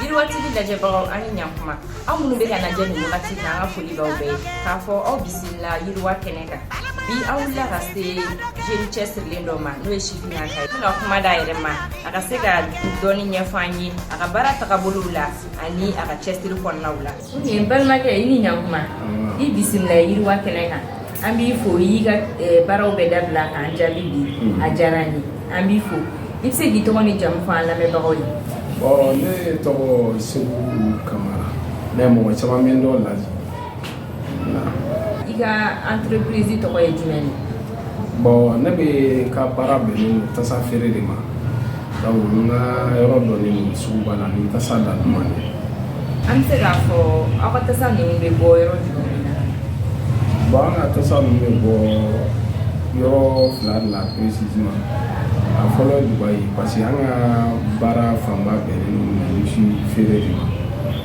yiriwatigi lajɛbagaw aw ni ɲakuma aw minnu bɛ k'an lajɛ nin wagati na an ka foli b'aw bɛɛ ye k'a fɔ aw bisimila yiriwa kɛnɛ kan bi an wulila ka se jeune cɛsirilen dɔ ma n'o ye sifinnaka ye ka kuma d'a yɛrɛ ma a ka se ka dɔɔni ɲɛfɔ an ye a ka baara tagabolow la ani a ka cɛsiri kɔnɔnaw la N balimakɛ i ni ɲakuma i bisimila yiriwa kɛnɛ kan an b'i fo i y'i ka baaraw bɛɛ dabila k'an jaabi bi a diyara an ye an b'i fo i bɛ se k'i tɔgɔ n'i jamu fɔ an lamɛnbagaw ye ne tɔgɔ Seku Kamara ne mɔgɔ caman bɛ n dɔn Laji i ka entreprise tɔgɔ ye jumɛn ye Bon ne bɛ ka baara bɛnnen tasa feere de ma donc n ka yɔrɔ dɔnnen suguba la ni tasa da duman ye an bɛ se k'a fɔ aw ka tasa ninnu bɛ bɔ yɔrɔ jumɛn na bon an ka tasa ninnu bɛ bɔ yɔrɔ fila de la précisément a fɔlɔ ye Dubaï parce que an ka baara fanba bɛnnen si feere de ma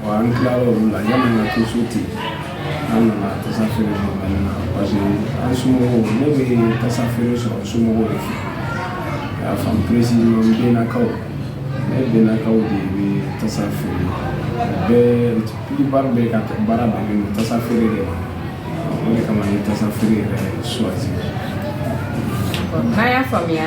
An tila olu la yan nana to so ten an nana tasa feere na parce que an somɔgɔw ne bɛ tasa feere sɔrɔ somɔgɔw de fɛ y'a faamu précisément bɛnkaw ne bɛnkaw de bɛ tasa feere bɛɛba bɛ ka baara bɛnnen tasa feere de ma o de kama n ye tasa feere yɛrɛ choisir n'a y'a faamuya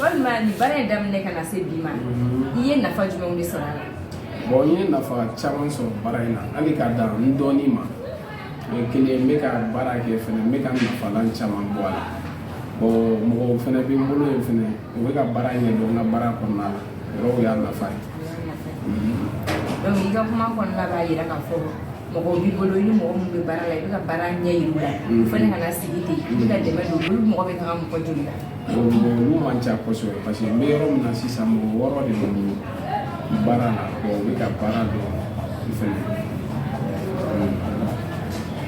walima nin baara in daminɛ ka na se bi ma i ye nafa jumɛnw de sɔrɔ a la bon n ye nafa caman sɔrɔ baara in na hali ka dan n dɔɔni ma o ye kelen n bɛ ka baara kɛ fɛnɛ n bɛ ka nafalan caman bɔ a la bon mɔgɔw fɛnɛ bɛ n bolo yen fɛnɛ u bɛ ka baara ɲɛdɔn n ka baara kɔnɔna la yɔrɔw y'a nafa ye donc i ka kuma kɔnɔna b'a jira k'a fɔ mɔgɔ b'i bolo i ni mɔgɔ minnu bɛ baara la i bɛ ka baara ɲɛ yir'u la u fana kana sigi ten i bɛ ka dɛmɛ don olu mɔgɔ bɛ taga mɔgɔ joli la bon olu man ca kosɛbɛ parce que n bɛ yɔrɔ min na sisan mɔgɔ wɔɔrɔ de bɛ n bolo baara la bon u bɛ ka baara dɔn u fana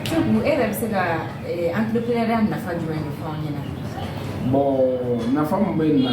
Seku e yɛrɛ bɛ se ka entrepreneuriat nafa jumɛn de fɔ an ɲɛna bon nafa min bɛ na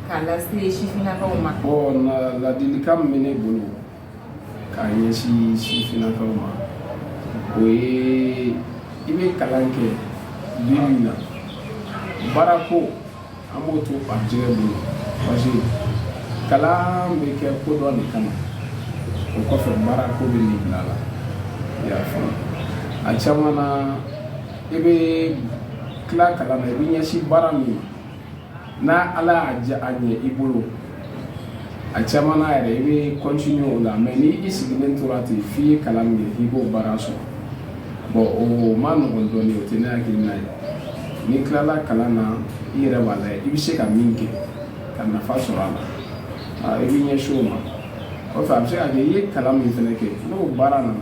Ka lase sifinnakaw ma bon ladilikan min bɛ ne bolo ka ɲɛsin sifinnakaw ma o ye i bɛ kalan kɛ bi min na baara ko an b'o to garijɛgɛ bolo parce que kalan bɛ kɛ ko dɔ de kama o kɔfɛ baara ko bɛ n'i bila a la i y'a faamu a caman na i bɛ tila kalan na i bɛ ɲɛsin baara min ma n'ala y'a diya a ɲɛ i bolo a caman na yɛrɛ i bɛ continuer o la mais ni i sigilen tora ten f'i ye kalan min k'i b'o baara sɔrɔ bon o man nɔgɔn dɔɔnin o tɛ ne hakilina ye n'i tilala kalan na i yɛrɛ b'a lajɛ i bɛ se ka min kɛ ka nafa sɔrɔ a la i bɛ ɲɛsin o ma kɔfɛ a bɛ se ka kɛ i ye kalan min fana kɛ n'o baara nana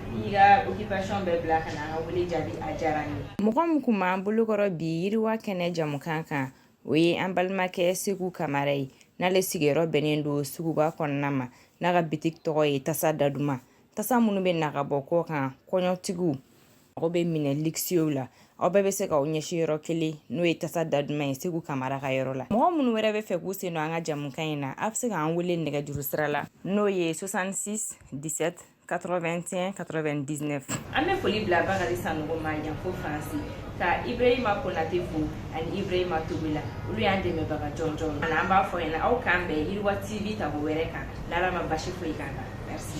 mɔgɔ min kun b'an bolokɔrɔ bi yiriwa kɛnɛ jamukan kan o ye an balimakɛ seku kamara ye n'ale sigiyɔrɔ bɛnnen don suguba kɔnɔna ma n'a ka bitiki tɔgɔ ye tasa daduma tasa minnu bɛ na ka bɔ kɔkan kɔɲɔtigiw mago bɛ minɛn luxueux la aw bɛɛ bɛ se k'aw ɲɛsin yɔrɔ kelen n'o ye tasa daduma ye seku kamara ka yɔrɔ la mɔgɔ minnu wɛrɛ bɛ fɛ k'u sen don an ka jamukan in na a bɛ se k'an wele nɛgɛjuru sira la n'o ye 66 17 81 99 an bɛ foli bila bakari sanogo ma yan fo faransi ka ibrahima konate fo ani ibrahima togola olu y'an dɛmɛbaga jɔnjɔn ani an b'a fɔ ɲɛna aw k'an bɛn yiriwa tv tako wɛrɛ kan n'ala ma basi foyi k'an na merci